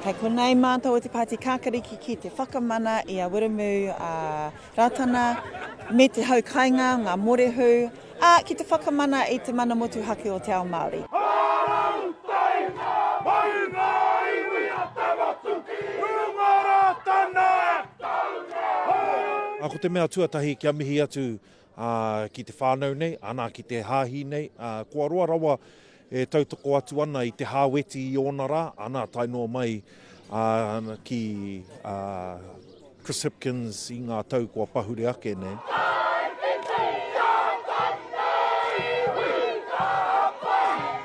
Kei konei mātou o te Pāti Kākarikiki te whakamana i a Wiremu a Rātana me te hau kainga, ngā morehu, a ki te whakamana i te mana motuhake o te ao Māori. Ā, ko te mea tuatahi kia mihi atu ā, ki te whānau nei, anā, ki te hāhi nei, ā, kua roa rawa e tautoko atu ana i te Hāweti i ōna rā, anā, tae noa mai ā, ki ā, Chris Hipkins i ngā tau kua pahure ake nei.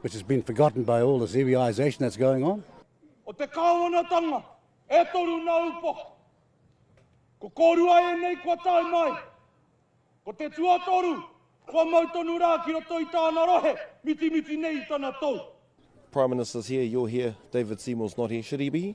which has been forgotten by all this Iwiaization that's going on. O te kāwanatanga, e toru nā upoko. Ko kōrua ēnei kua tae mai. Ko te tuatoru, kua mau tonu rā ki roto i tāna rohe, mitimiti nei i tana tou. Prime Minister's here, you're here, David Seymour's not here. Should he be here?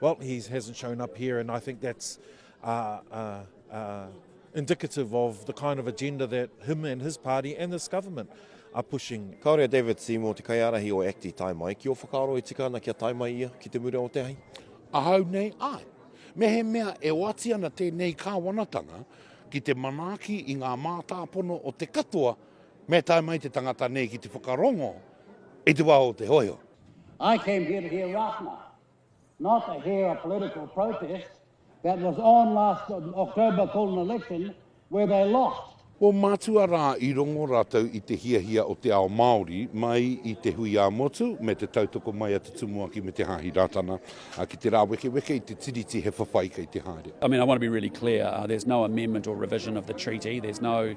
Well, he hasn't shown up here, and I think that's uh, uh, uh, indicative of the kind of agenda that him and his party and this government are pushing. Kāore a David Seymour, te kaiārahi o ACTI tae mai. Ki o whakaaro e tika ana kia tae mai ia ki te mura o te hai? Ahau nei, ai. Me he mea e oati ana tēnei kāwanatanga ki te manaaki i ngā mātāpono o te katoa me tae mai te tangata nei ki te whakarongo i te wā o te hoiho. I came here to hear Rātana, not to hear a political protest that was on last October called an election where they lost. Ko Matua rā i rongo rātou i te hiahia o te ao Māori mai i te hui ā-motu me te tautoko mai a te Tumuaki me te Hāhi Rātana ki te rāwekeweke i te Tiriti he whawhai kei te haere. I mean, I want to be really clear, uh, there's no amendment or revision of the treaty, there's no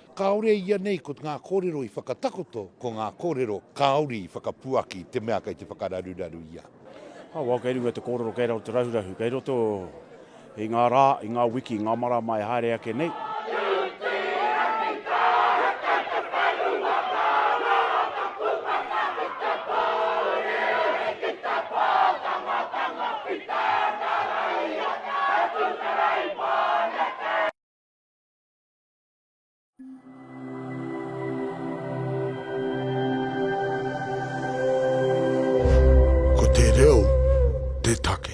Kāore ianei ko ngā kōrero i whakatakoto, ko ngā kōrero kāore i whakapuaki i te mea kei te whakararuraru i a. Awau kei runga i te kōrero kei raro te rahurahu kei roto i ngā rā, i ngā wiki, i ngā marama e haere ake nei. Ko te reo te take.